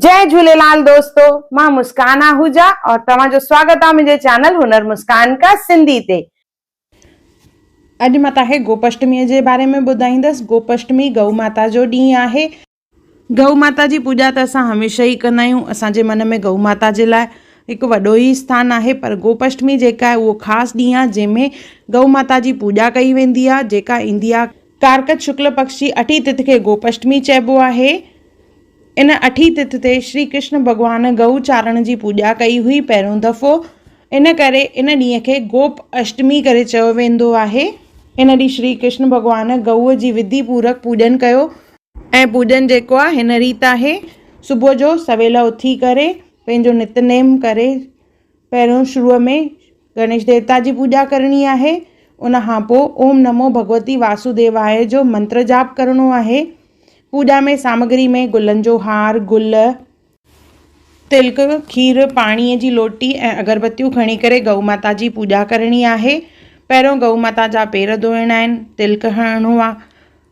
جئي جهوليلال دوستو مان مسڪان آهوجا اور توهان جو سواگت آ منهنجي چينل هنر مسڪان ڪا سنڌي تي. اڄ مان تهان کي گوپشٽمي جي باري ۾ ٻڌائيندس گوپشٽمي گئو ماتا جو ڏينهن آهي. گئو ماتا جي پوڄا ته اسان هميشه ئي ڪندا آهيون اسان جي من ۾ گئو ماتا جي لاء هڪ وڏو ئي اسٿان آهي پر گوپشٽمي جيڪا آهي اهو خاص ڏينهن آهي جنهن ۾ گئو ماتا جي پوڄا ڪئي ويندي آهي جيڪا ايندي آهي ڪارڪت شڪل پڪش جي اٺين تٿ کي گوپشٽمي چئبو آهي. ان اٺين تٿ تي شري ڪرشن ڀڳوان گئو چارڻ جي پوڄا ڪئي هئي پهريون دفعو. ان ڪري ان ڏينهن کي گوپ اشٽمي ڪري چيو ويندو آهي. ان ڏينهن شري ڪرشن ڀڳوان گئوء جي وڌي پورڪ پوڄن ڪيو. ۽ پوڄن جيڪو آهي هن ريت آهي. صبح جو سويل اٿي ڪري پنهنجو نت نيم ڪري پهريون شروع ۾ گڻيش ديوتا جي پوڄا ڪرڻي آهي. ان کان پوء اوم نمو ڀڳوتي واسوديواء جو منتر جاپ ڪرڻو آهي. پوڄا ۾ سامگري ۾ گلن جو هار، گل، تلڪ، کير، پاڻيء جي لوٽي ۽ اگربتيون کڻي ڪري گئو ماتا جي پوڄا ڪرڻي آهي. پهريون گئو ماتا جا پير ڌوئڻا آهن، تلڪ هڻڻو آ.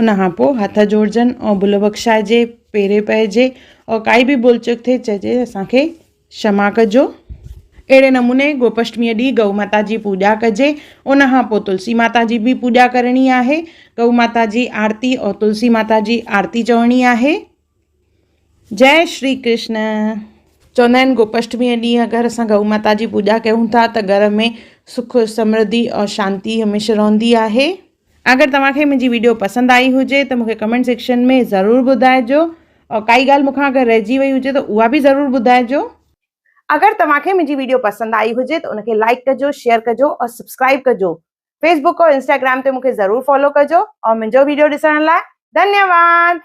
ان کان پوء هٿ جوڙجن ۽ ڀل بخشائجي، پيري پئجي ۽ ڪائي به ڀل چوڪ ٿئي چئجي اسان کي شما ڪجو. اهڙي نموني گوپشٽميء ڏينهن گئو ماتا جي پوڄا ڪجي. ان کان پوء تلسي ماتا جي به پوڄا ڪرڻي آهي. گئو ماتا جي آرتي ۽ تلسي ماتا جي آرتي چوڻي آهي. جئه شري ڪرشن. چوندا آهن گوپشٽميء ڏينهن اگر اسان گئو ماتا جي پوڄا ڪيون ٿا ته گهر ۾ سک سمرڌي اور شانتي هميشه رهندي آهي. اگر توهان کي منهنجي ويڊيو پسند آئي هجي ته مونکي ڪمينٽ سيڪشن ۾ ضرور ٻڌائجو اور ڪائي ڳالهه مونکان اگر رهجي وئي هجي ته اها به ضرور ٻڌائجو. اگر توهان کي منهنجي ويڊيو پسند آئي هجي ته ان کي لائڪ ڪجو شيئر ڪجو اور سبسڪرائب ڪجو فيسبوڪ اور انسٽاگرام تي مونکي ضرور فالو ڪجو اور منهنجو ويڊيو ڏسڻ لاء ڌنيواد.